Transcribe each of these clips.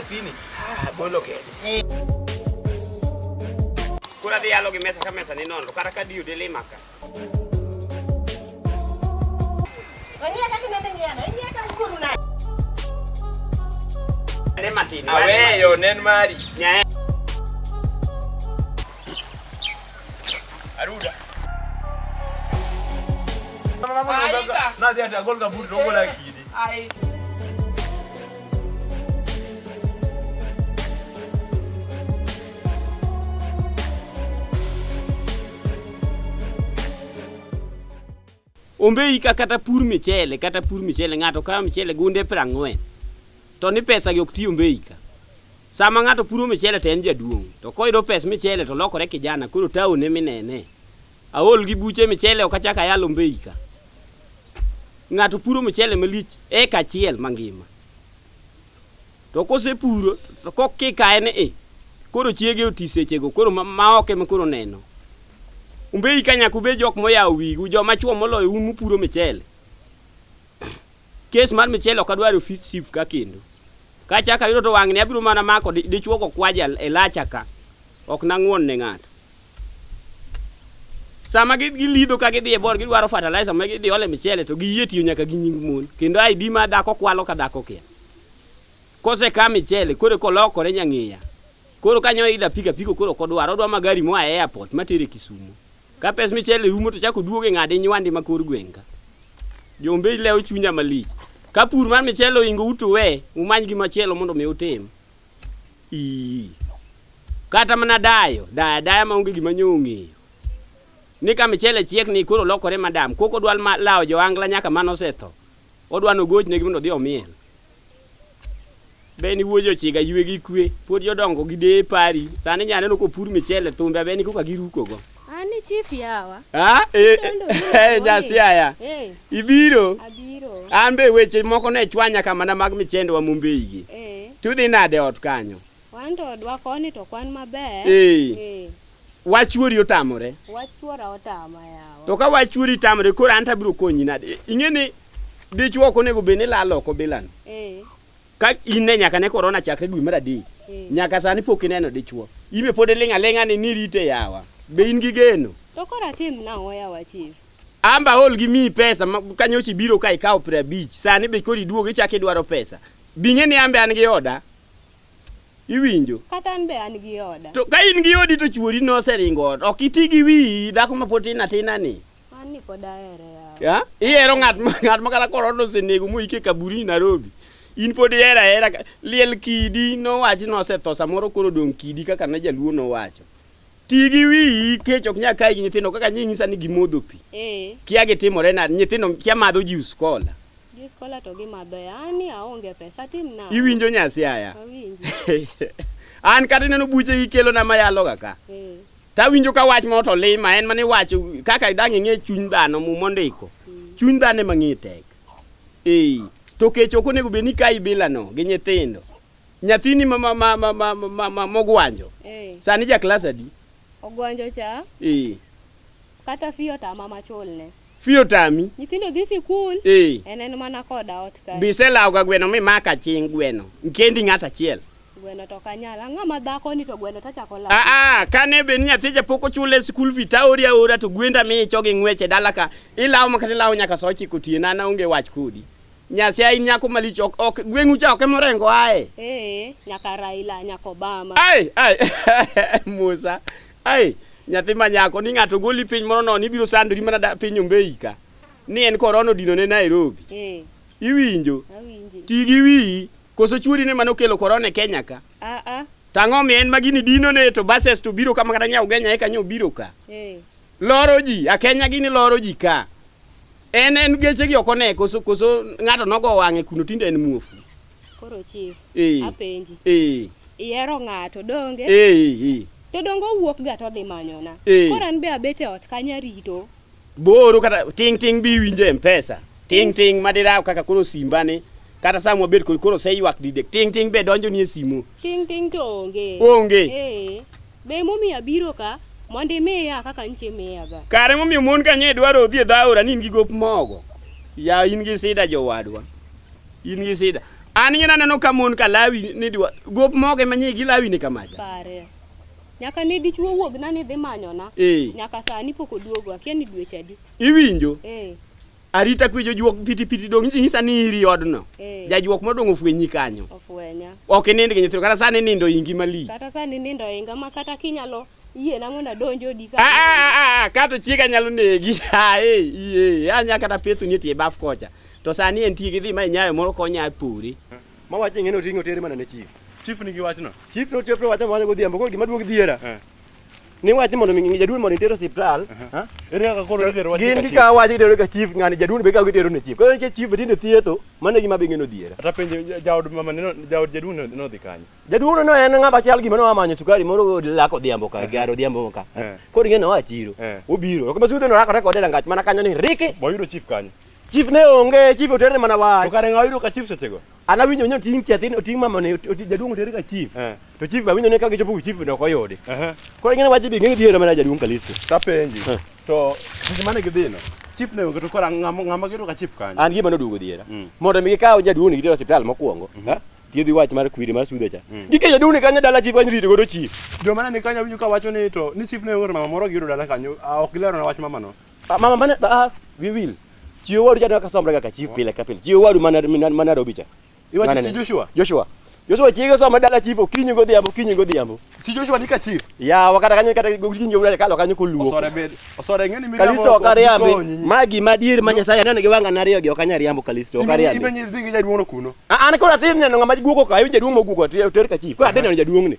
pini ah, bolo kede eh. kura dhi yalo gi mesa ka mesa ni nono kata ka diyo dilima ka ne matin aweyo nen mari Aruda. Na dia dia gol kaburi rogo la kidi. Ai. Ombeyi ka kata pur michele kata pur michele ng'ato kayo michele gunde prang'wen. To ni pesa gi ok ti Ombeyi ka. Sama ng'ato puro michele to en jaduong'. To koyudo pes michele to lokore kijana koro town e minene. Aol gi buche michele ok achak ayal Ombeyi ka. Ng'ato puro michele malich eka achiel mangima. To kosepuro to kokikaye ni i koro chiege oti sechego koro ma- ma ok ema koro neno. Umbeyi ka nyaka ubed jok moyawo wigu joma chwo moloyo un mupuro michele. Kes mar michele ok adwar e ofis chief ka kendo. Ka achako ayudo to wang'ni abiro mana mako di- dichwo go kwaja e lacha ka. Ok nang'won ne ng'ato. Sama gi- gilidho ka gidhi e bor gidwaro fertilizer ma gidhi ole michele to giyie tiyo nyaka gi nying mon. Kendo ID ma dhako kwalo ka dhako kia. Kose ka michele koro kolokore nyang'iya. Koro kanyo idha piko apiko koro kodwar odwa magari moa e airport matere Kisumo. Ka pes michele rumo to chako duogo e ng'ade nywande ma kor gweng' ka. Jombe ilewo chunya malich. Ka pur mar michele oingo utu we umany gima chielo mondo mi utim. Ii. Kata mana dayo, daya daya maonge gima nyo ong'eyo. Ni ka michele chiek ni koro lokore madam, koko dwal ma lawo joangla nyaka mano setho. Odwa nogochnegi mondo odhi omiel. Beni wuoji ochiga ywe gi kwe, pod jodongo gi deye pari. Sani nyane no kopur michele thumbe abeni koka giruko go. Ani chief yawa. Ha? Eh, eh, nyasi aya. Eh. Ibiro. Abiro. An be weche moko ne chwanya kama na mag michende wa Mumbei gi. Eh. Tudhi nade ot kanyo? Wan to odwa koni to kwan maber. Ee. Ee. Wach chuori otamore. Wach chuora otama yawa. To ka wach chuori tamore koro an to abiro konyi nade? I- Ing'e ni dichwo ok onego bed ni lalo oko bilano. Ee. Ka in ne nyaka ne korona chakre dwe mar adek. Ee. Nyaka sani pok ineno dichwo. Ibe pod iling' aling'a ni nirite yawa. Be in gi geno? To koro atim nang'o yawa chief? Amba aol gi miyi pesa ma- ka nyocha ibiro ka ikawo piero abich. Sani be koro iduogo ichako idwaro pesa. Bing'e ni ambe an gi oda. Iwinjo? Kata an be an gi oda. To ka in gi odi to chuori noseringo ot. Ok iti gi wiyi dhako ma pod tin atina ni. An ni pod ahere yawa. Ya? Ihero ng'at ma ng'at ma kata korona osenego moike kaburini Nairobi. In pod ihero ahera ka- liel kidi nowachi nosetho samoro koro odong' kidi kaka ne jaluo nowacho. ti gi wiyi kech ok nyal kayi gi nyithindo kaka nyi nyisa ni gimodho pi eh kia gitimore nade nyithindo kia madho juice cola jus kola to gimadho yani aonge pesa tim na iwinjo nyasi aya awinji an kata ineno buche gikelona mayaloga ka eh tawinjo ka wach moro to lima en mane wach kaka dang' ing'e chuny dhano muma ondiko chuny dhano ema ng'e tek ee to kech ok onego bed ni kayi bilano gi nyithindo Nyathini ma ma ma ma ma ma- ma ma mogwanjo. Eh, Sani ja klas adi? ogwanjo cha Eh. kata fiyo tama machulne. Fiyo tami. Nyithindo dhi sikul, Eh. en en mana koda ot kae. Biselawo ga gweno mi maka ching gweno. Nkendi ng'at achiel. Gweno to kanyal. Ang'a ma dhako ni to gweno tachako lawo. Ah ah, kane be ni nyathi ja pok ochule school fee taori aora to gwenda mi icho gi ng'weche dala ka. Ilawo makata ilawo nyaka saa ochiko otieno an aonge wach kodi. Nyasaye in nyako malich ok ok gweng'u cha ok emorengo ae. Eh, nyaka Raila, nyaka Obama. Ai ai Musa. Ai nyathi ma nyako ni ng'ato goli piny moro nono ibiro sandori mana da- piny ombeyi ka. Ni en korona odino ne Nairobi. Eh, Iwinjo? awinji. Ti gi wiyi. Koso chuori ne mano kelo korona e Kenya ka. Ah ah. Tang'o mi en magini dino ne to bases to biro kama kata nyao genya eka nyo biro ka. Eh, Loro ji, akenya gini loro ji ka. En en geche gi oko ne koso koso ng'ato nogo wang'e kuno tinde en muofu. Koro chief, Eh. apenji. Eh, Ihero ng'ato donge? eh, eh. To donge owuok ga todhi manyona. Eh. Koro an be abet e ot kanya rito. Booro kata ting ting bi winje e mpesa. Ting ting madiraw kaka koro simbani. Kata samwa bet kod koro seywak didek. Ting ting be donjo ni e simu. Ting ting to onge. Onge. Eh. Be emomiyo abiro ka mondo imiya kaka nchi imiyaga? Kare emomiyo mon ka nye dwaro odhi e dho aora ni in gi gop mogo. Ya in gi sida jowadwa. In gi sida. An nye naneno ka mon ka lawi ni dwa gop mogo ema nye gilawi ni kamacha. Pare. Nyaka ne dichwo wuogna ni dhi manyona. Eh. Nyaka sani pok oduogo. Akia ni dweche adi. Iwinjo? Eh. Arita kwe jojuok piti piti dong' inyisa ni iri odno. Eh. Jajuok modong' ofwenyi kanyo. Ofwenya. Ok inind gi nyithindo kata sani nindo ingi malich. Kata sani nindo inga ma kata kinyalo yie na mondo adonj odi ka. Ah, ah, ah, ah, kato chiega nyalo negi. Ah, eh, iye. Anya kata pethu ni tie baf kocha. To sani en tie gidhi ma inyayo moro konya puri. Ma wach ing'e ni oting'o tere mana ne chief. Chief nigi wachno. Chief no chief no wacho mana godhiambo ko gima duog dhiera. Eh. ni wach ni mondo mi jaduol mondo itero siptal ere kaka koro itero wach gin kika wach itero ka chief ngani jaduol be kaka itero ne chief koro nitie chief tinde thietho mano gima be ngeno dhiera ata penjo jaod mama ne jaod jaduol no dhi kanyo jaduol no en ngaba chal gima no amanyo sukari moro lako dhiambo ka garo dhiambo ka koro ngeno wa chiro obiro kama sudhe no rakore kode rangach mana kanyo ni riki boyudo chief kanyo Chief ne onge, chief otere mana wach. To kare ng'awa yudo ka chief sechego? An awinjo nyo ting' chathin, oting' mama ne, oting' jaduong' otere ka chief. Eh. To chief awinjo ni ka gichopo ku chief bende ok oyudi. Aha. Koro ing'e ni wach bi ng'e dhiero mana jaduong' Kalisto. Tapenji. Eh. To seche mane gidhino, chief ne onge to kora ng'ama ng'ama giyudo ka chief kanyo. An gima noduogo dhiera. Mm. Mondo mi gikaw jaduong' ni gitero hospital mokwongo. Mhm. ha? Thiedhi wach mar kwiri mar sudhe cha. Mm. Gike jaduong' ni kanyo dala chief kanyo rito godo chief. Joma ne ni kanyo awinjo ka wacho ni to ni chief ne onge to mama moro giyudo dala kanyo. Ah, ok gilerona wach mamano. Ah, mama mana ah, we will. Chiwo wadu jadwa kasomra kaka chief pile ka pile. Chiwo wadu mana mana Nairobi cha. Iwa Nane. chi Joshua. Joshua. Joshua chiege soma dala chief okinyi godhiambo okinyi godhiambo. Chi Joshua ni ka chief. Ya wakata kanyo kata gokinyi wala kalo kanyo koluo. Osore bed. Osore ngeni mi Kalisto okariambi. Magi madier ma Nyasaye aneno gi wanga nariyo gi okanya riambo Kalisto okariambi. Imenyi dhingi jaduono kuno. Ah, an kora thin neno ngama guoko ka, iwinja duong moguoko ter ka chief. Kora thin neno jaduong ni.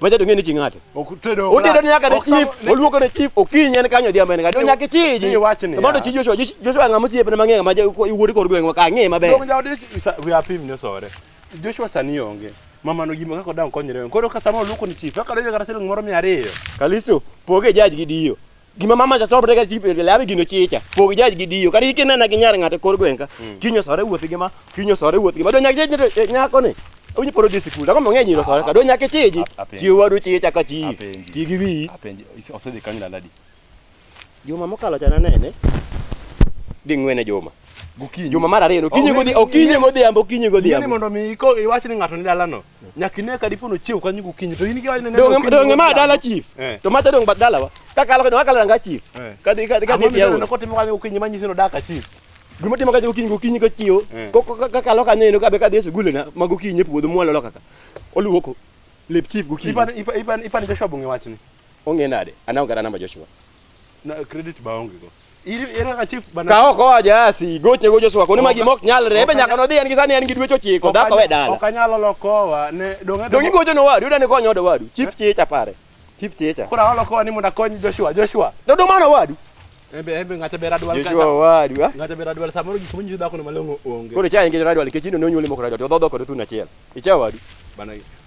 Macha donge ni chingate. Otedo. Otedo ni nyaka ne chief, oluoko ne chief okinyi en kanyo diambe ngado nyaka chiji. Ni wachni. Mondo chi Joshua, Joshua ngamo siep ne mang'e ma iwuodi kor gweng' ka ng'e maber. Donge jaodi we are pim ni sore. Joshua sani onge. Mama no gima kaka dang konyre. Koro ka sama oluoko ni chief, kaka donge kata siling moro 200. Kalisto, poge jaj gi dio. gima mama cha chopre ga chip labi gino chicha pog jaj gi diyo kari kinena gi nyar ng'ate kor gwenka hmm. kinyo sore wuoth gi ma kinyo sore wuoth gi ma do nyak jaj eh, nyako ni onyi poro di sikul ako mang'e nyiro sore ka do nyake chiji chiwo wadu chicha ka chi ti gi wi osedhi kanyo laladi juma mokalo cha nanene ding'wene juma Gokinyi. Juma mar ariyo okinyi godhi okinyi godhiambo okinyi godhiambo. Ni mondo mi iko iwach ni ng'ato ni dalano. Nyaka ine ka dipo nochiew kanyo gokinyi to in giwach ni ne. Donge donge ma dala chief. Eh. To mata dong bad dalawa. Ka kalo ka kalo ranga chief. Eh. Ka dhi ka dhi ka dhi tiyo. Amami ko timo kanyo gokinyi manyisi no daka chief. Gima timo kanyo gokinyi gokinyi ka tiyo. Eh. Ko ka kalo kanyo ino ka be ka dhi sugule na ma gokinyi e puodho mwalo loka ka. Oluoko. Lep chief gokinyi. Ipan ipan ipan ipan Joshua bunge wachni. Onge nade? Anaongera namba Joshua. Na credit baonge go. Ka ok oa jasi, gochne gocho swako ni magi mok nyalre, be nyaka nodhi en gi sani en gi dweche ochiko, dhako we dala. Ok anyalo lokowa ne donge. Donge gocho no wadu, dani konyo odo wadu. Chief chief apare. Chief chief. Kora holo kowa ni mondo akony Joshua, Joshua. Do do mano wadu. Embe embe ng'ata bera dwal kata. Joshua wadu. Ah. Ng'ata bera dwal samoro gik monyiso dhako no malongo onge. Koro cha ingejo radwal kechino ne onyuole moko radwal, to dhodho kod thuna achiel. Icha wadu. Bana.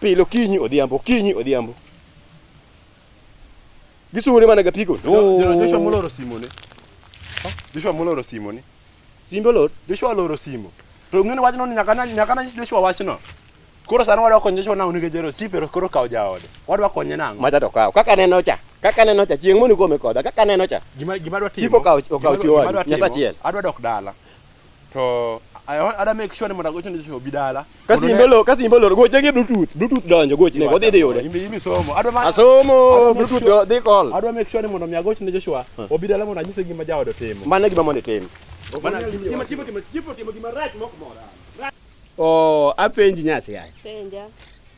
Pile okinyi odhiambo, okinyi odhiambo. Gisure mana ga pigo. Joshua moloro simone. Joshua moloro simone. Simbo lor. Joshua oloro simo. To ng'eni wachno ni nyaka nyaka na Joshua wachno. Koro sano wadwa konyo Joshua nang'o nikech jero si pero koro kawo jaode. Wadwa konye nang'o. Macha to kawo. Kaka neno cha. Kaka neno cha chieng' moni kome koda. Kaka neno cha. Gima gima dwa timo. Siko kawo kawo chiwo. Nyasachiel. Adwa dok dala. to ada make sure ni mondo agocho ni obi dala kasi imbolo kasi imbolo goch ne bluetooth bluetooth donjo goch ne odhi dhi yude imbi imbi somo adwa ma asomo bluetooth do dhi call adwa make sure ni mondo mi agocho ni Joshua obi dala mondo anyise gima jaodo timo mane gima mondo timo mana gima timo timo timo timo gima rach mok mora o apenji nyasi yaye penja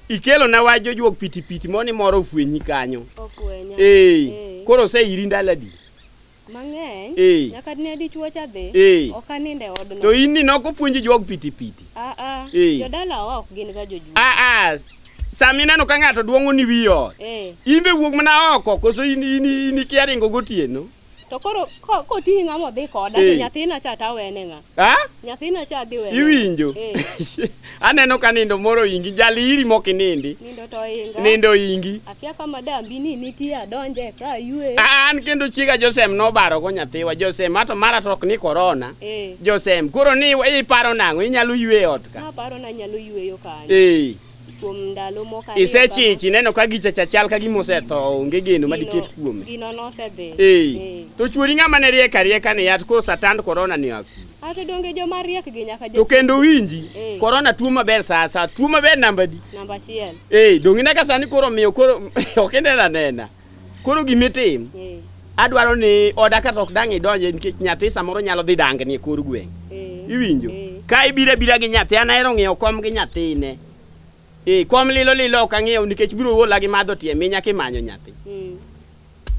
ikelo na wach jojuok pitipiti moni moro ofwenyi kanyo ofwenya ee koro ose iri ndaladi mang'eny Eh. nyaka dine dichwo cha dhi Eh. ok anindo e odno to in ni nok opuonji jog pitipiti Ah, ah, Eh. jodalawa ok gin ga jojuo aa sama ineno ka ng'ato duong'o ni wi ot Eh, in be wuog mana oko koso in in in ikia ringo gotieno to koro ko- koting'i ng'a modhi koda Eh. to nyathina cha tawene ng'a Ha? Nyathino cha dhi wewe. Iwinjo? Eh. Aneno ka nindo moro ingi, jali iri mok inindi. Nindo to inga. Nindo ingi. Akia ka madam bini nitie adonje ka yue. Ah, an kendo chiega Josem nobaro go nyathiwa Josem ato mara tok ni corona. Eh. Josem koro ni iparo nang'o inyalo yue ot ka. Aparo na nyalo yueyo kanyo. Eh. kuom ndalo moko ariyo isechichi ineno ka gicha cha chal ka gima osetho onge geno ma diket kuome gino nosedhi ee Eh. to chuori ng'ama ne riek arieka ni yath koro satand korona ni aku ato donge joma riek gi nyaka to jo kendo winji Eh. korona tuo maber saa saa tuo maber namba di namba achiel ee donge ineka sani koro miyo koro ok inena nena Koro gima itim, Eh, adwaro ni oda kata ok dang' idonje nikech nyathi samoro nyalo dhi dangni e kor gweng'. eh, Iwinjo? eh. Ka ibiro abira gi nyathi, an ahero ng'iewo kom gi nyathine. Eh, kom lilo lilo ok ang'iew nikech biro ola gi madho tie minya kimanyo nyathi. Mm.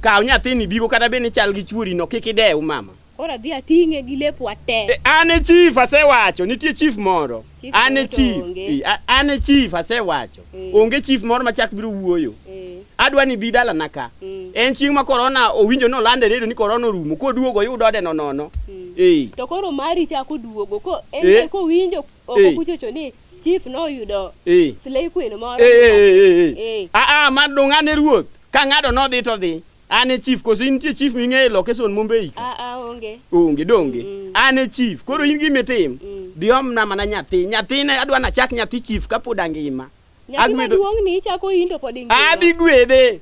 Kaw nyathini bigo kata bed ni chal gi chuorino kik idew mama. Koro adhi ating'e gi lepwa te. E, an e chief asewacho, nitie chief moro. Chief an e moro to chief. onge. E, a- an e chief asewacho. Eh. Onge chief moro machak biro wuoyo. Eh, Adwa ni bi dalana ka. Mm. En chieng' ma korona owinjo ni olando e redio ni korona orumo. Koduogo oyud ode nonono. Mm. Eh. To koro mari chako duogo ko en Eh. eh. kowinjo oko Eh. kuchocho ni chief noyudo Eh. slay queen moro. Eh, eh, eh, eh, eh. Eh. Ah, ah, ma dong' ane ruoth. Ka ng'ado nodhi to dhi. An e chief koso in nitie chief ming'eyo e location Mumbei ka? Ah, ah, onge. Onge donge. Mm. An e chief. Koro in gima itim. Mm. Dhi omna mana nyathi. Nyathine adwa nachak nyathi chief kapod angima. Nyathi Agwedho- maduong' ni ichako in to pod ingima. Abi gwedhe.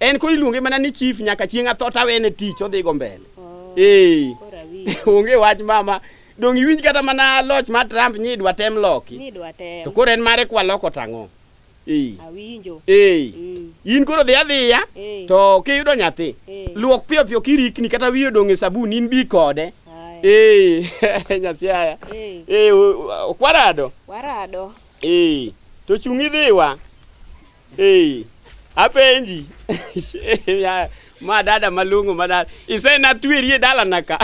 En koro iluonge mana ni chief nyaka chieng' atho tawene tich odhi go mbele. Oh, Ee. koro awinjo. Onge wach mama. Dong iwinj kata mana loch ma Trump nyidwa tem loki. Ni dwa tem. To koro en mare kwaloko tang'o. Awinjo. Eh. Mm. In koro dhi adhiya eh. to kiyudo nyathi eh. luok piyo piyo kirikni kata wiyo dong' e sabun in bi kode. Eh. Nyasiaya. Eh. Eh, okwarado. Warado. Eh. To chung' idhiwa. Eh. Apenji. ma dada malungu ma dada. Ise na tweri e dala naka.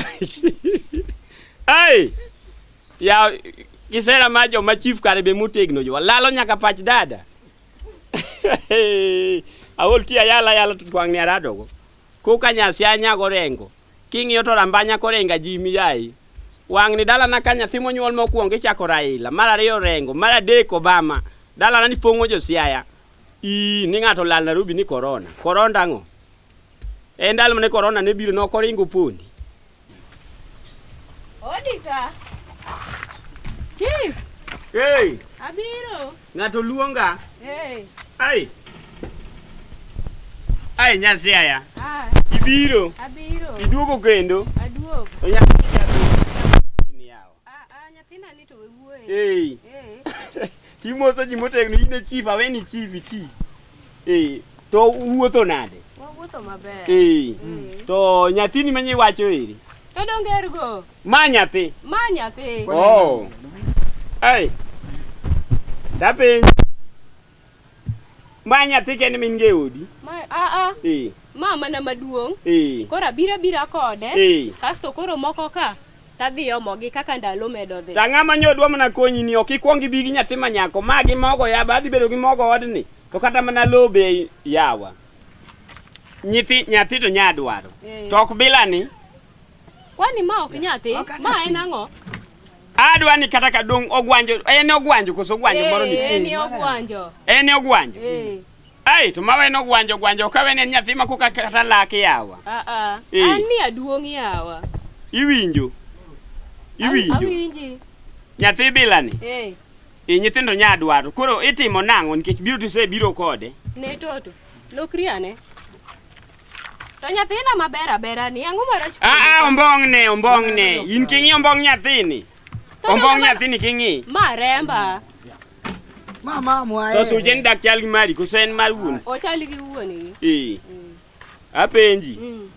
Ai. Ya kisera ma jo ma chief kare be motegno jo lalo nyaka pach dada. Aol ti ayala yala to twang' ne aradogo. Koka nyasi anya gorengo. King'iyo to rambanya korenga ji miyayi. Wang'ni dalana ka nyathi monyuol mokwongo ichako Raila, mar ariyo Orengo, mar adek Obama. Dalana ni pong'o jo Siaya. Ii, ni ng'ato lal Nairobi ni korona. Koronda ang'o? E ndalo mane korona ne biro ne ok oringo pondi. Odika. Chief. Hey. Abiro. Ng'ato luonga. Hey. Ai. Ai nyasi aya. Ah. Ibiro. Abiro. Iduogo kendo. Aduogo. Onyalo chini yao. Hey. Kimoso ji motegno in e chief aweni chief iti. Hey. To wuotho nade? Wawuotho maber. Hey. Mm. To nyathini manye wacho eri. To dongergo. Ma nyathi. Ma nyathi. Oh. Hey. Dapenji. Ma nyathi kende min ge odi. Ma a a. Eh. Ma mana maduong'. Eh. Koro abira bira kode. Eh. Kasto koro moko ka tadhi omogi kaka ndalo medo dhi. Ta ng'ama nyodwa mana konyi ni ok ikwong ibi gi nyathi ma nyako. Ma gi mogo ya ba adhi bedo gi mogo odni. To kata mana low be yawa. Nyithi nyathi to nya dwaro. Eh. To ok bila ni. Kwani ma ok nyathi? Ma en ang'o? Adwa ni kata ka dong ogwanjo en ogwanjo koso ogwanjo moro eh, nitie. En ogwanjo. En ogwanjo. Eh. Ai to mawe no gwanjo gwanjo ka wene nyathi ma koka kata lak yawa. A a. Eh. An ni aduong yawa. Iwinjo. Iwinjo. Awinji. Nyathi bila ni. Eh. E nyithindo nya dwaro. Koro itimo nang'o nikech biro tise biro kode. Ne toto. Lokri ane. To nyathina maber abera ni ang'o marach? Ah ah, ombong ne, ombong ne. In king'i ombong nyathini. Ombong nyathini king'i. Ma remba. Mama mwae. To suche ni dak chal gi mari, koso en mar wuon. O chal gi wuon ni. Eh. Mm. Apenji. Mm.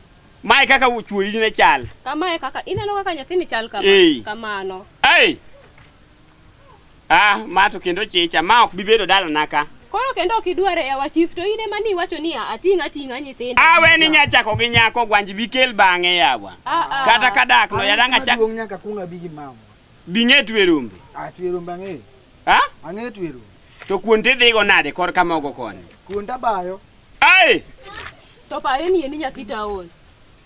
Mae kaka chuori ne chal. Kama e kaka ineno kaka nyathini chal kama. Eh. Kamano. Ai. Ah, ma to kendo chicha, ma ok bibedo dalana ka. Koro kendo ok idware yawa chief to in ema niwacho ni ating' ating'a nyithindo. Awe ni nyachako gi nyako gwanji bikel bang'e yawa. Ah, ah. Kata ka dak no yadang' achak Maduong' nyaka kuong abi gi mama. bing'e twe rombe. Ah, twe rombe ang'eyo. Ha? Ang'eyo twe rombe. To kuon tidhigo nade kor ka mogo koni? Kuonda bayo. Ai! To pare ni en nyathi taon.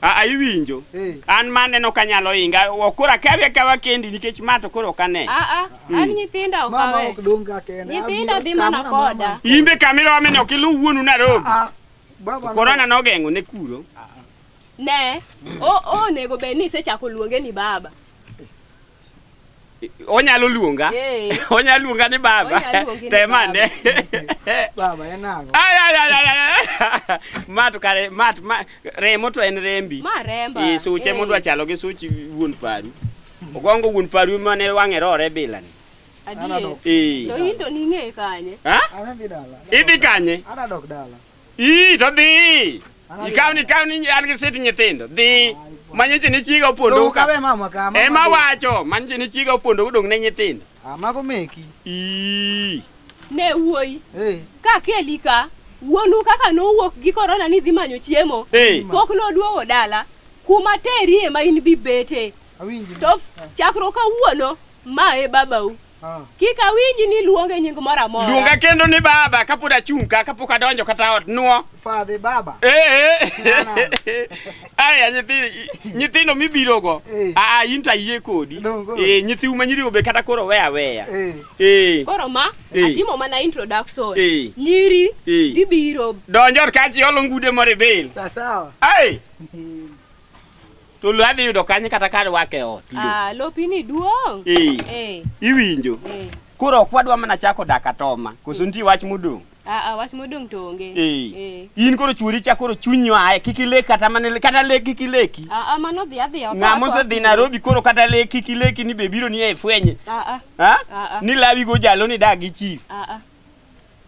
Aa, iwinjo Eh. an ma aneno ka nyalo inga ok koro akawi akawa kendi nikech ma to koro ok ane Aa, an nyithinda Mama okawe. ok dong ka kende. Nyithinda dhi mana koda. imbe kamira wamene ok iluw wuonu narobi Ah, baba. korona nogeng'o ne kuro Ne, o- onego bed ni isechako luonge ni baba. onyalo luonga Eh. onyalo luonga ni baba Onyalo luongi ni temane Baba en ang'o? Ay, ay, ay, ay, ay, ay. ma to kare ma to- ma remo to en rembi Ma remba. Eh, suche Eh. modwa chalo gi such wuon paru ogongo wuon paru mane wang'e rore bilani Adier. Anadok. Eh. To in to ning'e kanye? Ha? Adhi dala. idhi kanye Adadok dala. ii to dhi Ikaw ni kaw ni an gi sit nyithindo. Dhi manyoche ni chiga opondo Lowo ka. kawe mama ka. mama Ema be. wacho manyoche ni chiga opondo odong ne nyithindo. Ah, mago meki. Ii. Ne wuoyi. Eh. Ka keli ka, wuonu kaka nowuok gi korona ni dhi manyo chiemo. Hey. Pok noduogo dala. Kuma terie ma in bibete. Awinji. To chakruok kawuono, ma e babau. Ah. Kik awinji ni luonge nying moro amora. Luonga kendo ni baba kapod achung' ka kapok adonjo kata ot nuo. Father baba. Eh eh. Aya nyithi nyithindo mibirogo. Eh. Ah, ah in to ayie kodi. Eh nyithi uma nyirigo be kata koro we aweya. Eh. eh. Koro ma eh. atimo mana introduction. Eh. Nyiri gibiro. Donjo ka ji olo ngude moro e bel. Sawa sawa. Ai. To lo adhi yudo kanye kata ka arwake e ot? Lo. Ah, lopini duong'. Eh. Eh. Iwinjo? Eh. Koro ok wadwa mana chako dak atoma. Koso nitie wach modong'? Ah, ah, wach modong' to onge. Eh. Eh. In koro chwori cha koro chunyi aye kik ilek kata mana ile- kata lek kik ileki. Ah, ah, mano dhi adhi oko. Ng'ama osedhi Nairobi koro kata lek kik ileki ni be biro ni e fwenye. Ah, ah, Ha? ah, ah, Ni lawi go jalo ni dag gi chief. ah, ah.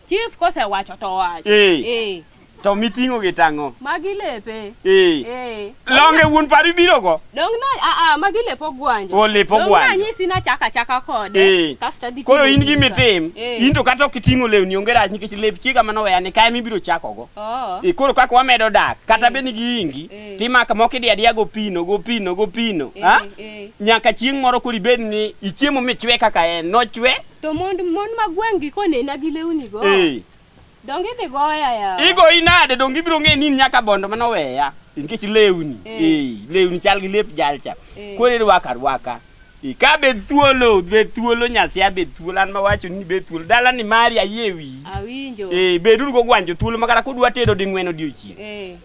Chief kosewacho to owacho. Eh. Eh. To miting'o gi tang'o. Magi lepe. Eh. Eh. Longe wuon pari biro go. Dong na a a magi lepo gwanje. O lepo gwanje. Dong na nyisi na chaka chaka kode. Eh. Kasta di. Koro in gi mitim. Eh. In to kata ok iting'o lewni onge rach nikech lep chiega mano weya ni kae mibiro chako go. Oh. Eh, koro kaka wamedo dak kata eh. bed ni giingi eh. timaka moko idi adiya go pino go pino go pino. Eh. Ha? Eh. Nyaka chieng' moro koro ibed ni ichiemo michwe kaka en. Nochwe. To mond mon ma gweng'gi konena gi lewni go. Eh. Donge idhi goya ya. Igo inade donge ibiro ng'e ni nyaka bondo mano weya. Nikech lewni. Eh. Eh, lewni chal gi lep jalcha. Eh. Koro irwaka rwaka. Eh, ka bed thuolo, bed thuolo nyasia bed thuolo an mawacho ni bed thuolo. Dala ni mari ayie wi. Awinjo. Eh, beduru go gwanjo thuolo makata kudwa tedo ding'wen odiochieng'. Eh.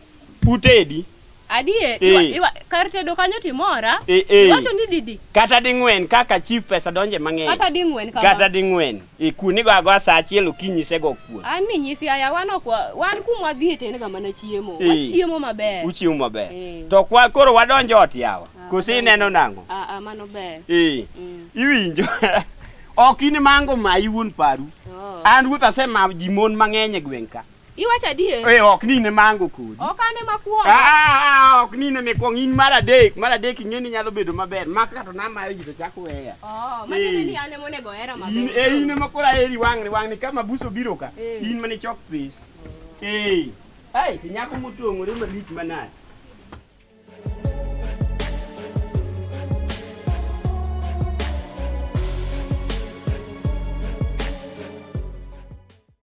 Utedi. Adie, Eh. iwa, iwa, kar tedo kanyo timora. Eh, eh. Iwacho ni didi. Kata ding'wen kaka chief pesa donje mang'eny. Kata ding'wen kama. Kata ding'wen. E kuon igo agoa saa achiel okinyi isego kuon. An ni nyisi aya wan ok wa- wan kuma wadhi e tenga mana chiemo. Eh. Wachiemo maber. Uchiemo maber. Eh. To kwa koro wadonjo ot yawa. Ah, Koso wadonjo. ineno nang'o? Ah, ah, mano ber. Eh. Mm. Iwinjo. Ok in mango ma iwuon paru. Oh. An ruoth asema ji mon mang'eny e gweng' ka. Iwacho adier? Eh, ok ni ne mango kodi. Ok ane makwongo. Ah, ah, ah, ok ni ne mikwongo in mar adek, mar adek ing'e ni nyalo bedo maber. Mak kato na mayo ji to chak weya. Oh, manyone ni ane monego hera maber. In eh in ema kora heri wang'ni wang'ni kama buso biro ka. Eh. In mane chok pes. Eh. Ai, to nyako motong'ore malich manade.